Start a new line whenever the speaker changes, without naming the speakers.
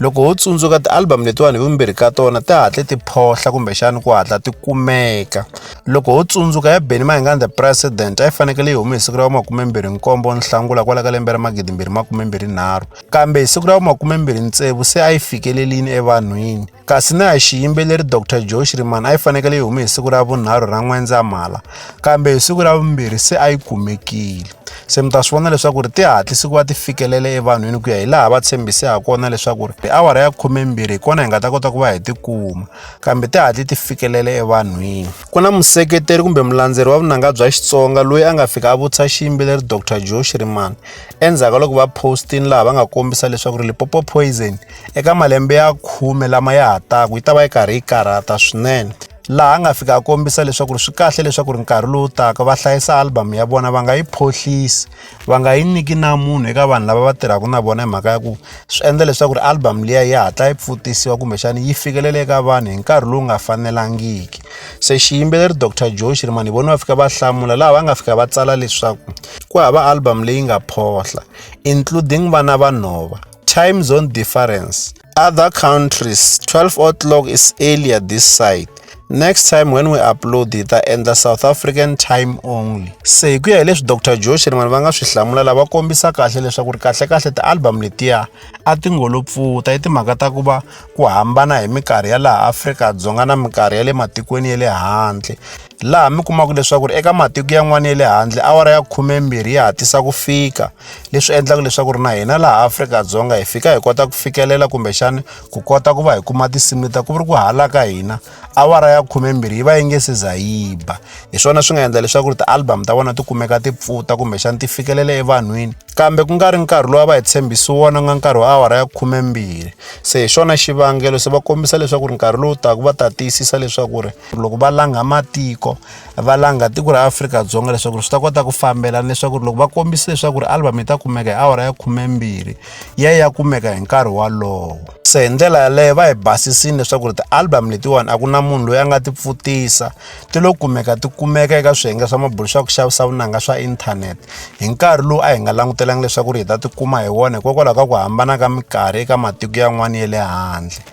loko ho tsundzuka ti-album letiwani hi vumbirhi ka tona ti hatle ti phohla kumbexani ku hatla ti kumeka loko ho tsundzuka ya beni mahingani the president a yi fanekele yi hume hi siku ra vumakumembirhi nkombo nhlangula kwala ka lembe ra magidimbirhi makumembirhi nharhu kambe hi siku ra vumakumembirhi ntsevu se a yi fikelelini evanhwini kasi na ya xiyimbeleri dr joe shriman a yi fanekele yi hume hi siku ra vunharhu ra n'wendzamhala kambe hi siku ra vumbirhi se a yi kumekile se mi ta swi vona leswaku ri ti hatlisi ku va ti fikelele evanhwini ku ya hi laha va tshembise ha kona leswaku ri tiawara ya khumembirhi hi kona hi nga ta kota ku va hi tikuma kambe ti hatli ti fikelele evanhwini ku na museketeri kumbe mulandzeri wa vunanga bya xitsonga loyi a nga fika a vutisa xiyimbeleri dr joe shirimani endzhaku ka loko va postini laha va nga kombisa leswaku ri lipopo poison eka malembe ya khume lama ya ha taku yi ta va yi karhi yi karhata swinene laha nga fika a kombisa leswaku ri swi kahle leswaku ri nkarhi lowu taka va hlayisa album ya vona va nga yi phohlisi va nga yi nyiki na munhu eka vanhu lava va tirhaka na vona hi mhaka ya ku swi endla leswaku ri album liya yi hatla yi pfutisiwa kumbexana yi fikelela eka vanhu hi nkarhi lowu nga fanelangiki se xiyimbeleri dr joe xirimani hi vona va fika va hlamula laha va nga fika va tsala leswaku ku hava album leyi nga phohla including vana vanhova Time zone difference. Other countries, 12 o'clock is earlier this side. Next time when we upload it, ta endla South African time only. Se hi ku ya hi leswi Dr. Josh ni vanhu va nga swi hlamula lava kombisa kahle leswaku ri kahle kahle ti-album letiya a ti ngolo pfuta i timhaka ta ku va ku hambana hi minkarhi ya laha Afrika-Dzonga na minkarhi ya le matikweni ya le handle. laha mi kumaka leswaku ri eka matiko yan'wana ya le handle awara ya khumembirhi ya hatlisa ku fika leswi endlaka leswaku ri na hina laha Afrika-Dzonga hi fika hi kota ku fikelela kumbexana ku kota ku va hi kuma tinsimu leta ku ri ku hala ka hina awara ya khumembirhi yi va yi nge se za yi ba hi swona swi nga endla leswaku ri ti-album ta vona ti kumeka ti pfuta kumbexana ti fikelela evanhwini kambe ku nga ri nkarhi lowu a va hi tshembisi wona nga nkarhi wa awara ya khumembirhi se hi xona xivangelo se va kombisa leswaku ri nkarhi lowu taka va ta tiyisisa leswaku ri loko va langha matiko va langha tiko ra afrika-dzonga leswaku ri swi ta kota ku fambelana leswaku ri loko va kombisa leswaku ri album yi ta kumeka hi awara ya khumembirhi ya ya kumeka hi nkarhi walowo se hi ndlela yaleyo va hi basisini leswaku ri ti-album letiwani a ku na munhu loyi a nga ti pfutisa ti lo kumeka ti kumeka eka swiyenge swa mabulu swa ku xavisa vunanga swa inthanete hi nkarhi lowu a hi nga langutelanga leswaku ri hi ta ti kuma hi wona hikokwalaho ka ku hambana ka minkarhi eka matiko yan'wana ya le handle